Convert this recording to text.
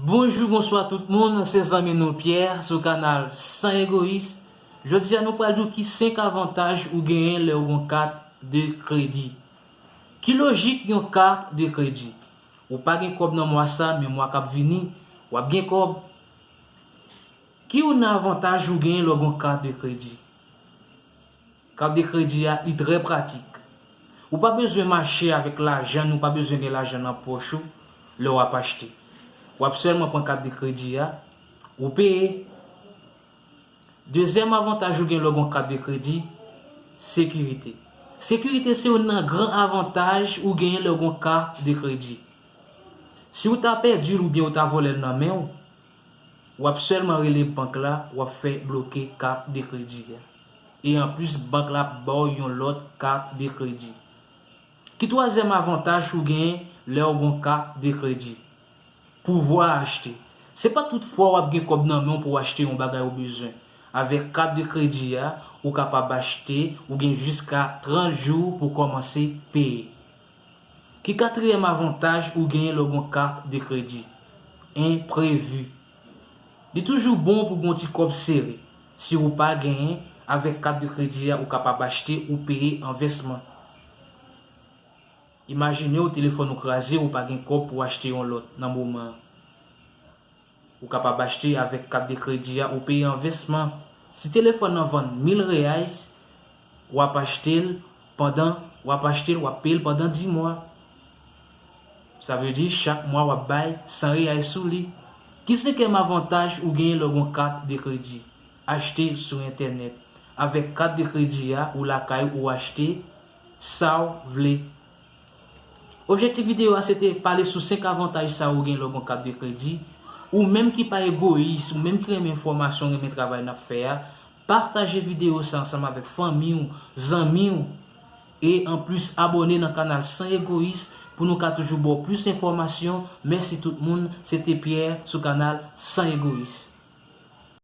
Bonjou bonswa tout moun se zanmi nou Pierre sou kanal San Egoyis jodia nou pral di w ki 5 avantaj ou genyen lè ou gon kat de kredi ki lojik yon kat de kredi ou pa gen kòb nan mwa sa men mwa kap vini wap gen kòb ki youn nan avantaj ou genyen lè w gon kat de kredi. Kat de kredi a li trè pratik. Ou pa bezwen mache avèk lajan ni w pa bezwen gen lajan nan pòch ou lè w ap achte. W ap sèlman pran kat de kredi a, ou peye. Dezyèm avantaj ou gen lè w gen yon kat de kredi, sekirite. Sekirite se youn nan gran avantaj ou genyen lè w gen yon kat de kredi. Si w ta pèdi l oubyen yo ta vòlè l nan men w, Wap sèlman rele bank la wap fè bloke carte de crédit a. E anplis bank la ap baw yon lòt carte de crédit. Ki twazyèm avantaj ou gen lèw gon carte de crédit? Pouvwa achte. Se pa tout fwa wap gen kòb nan menw pouw achte yon bagay ou bezwen. Avèk carte de crédit a ou kapab achte ou gen jiska 30 jou pou kòmanse peye. Ki katriyèm avantaj ou genyen lè w gon kat de kredi? Enprevi. Li toujou bon pou gon ti kòb sere. Si ou pa genyen, avèk kat de kredi a ou kapab achte ou peye an vèsman. Imajine w telefòn ou kraze ou pa gen kòb pou achte yon lòt nan moman an. Ou kapab achte avèk kat de kredi a ou peye an vèsman. Si telefòn nan vann 1000 reais, wap achte l pandan wap achte l wap peye l pandan 10 mwa. Sa vle di chak mwa wap bay 100 reais sou li. Ki senkèm avantaj ou genyen lè w gon kat de kredi? Achte sou entènèt. Avèk kat de kredi a ou lakay ou achte sa w vle Objektif videyo a se te pale sou 5 avantaj sa ou gen lè w gon kat de kredi, ou menm ki pa egoyis, ou menm ki renmen enfòmasyon, renmen travay nap fè a, pataje videyo sa ansanm avèk fanmi w, zanmi w, e anplis abòne nan kanal San Egoyis pou nou ka toujou ba w plis enfòmasyon, mèsi tout moun, se te Pierre sou kanal San Egoyis.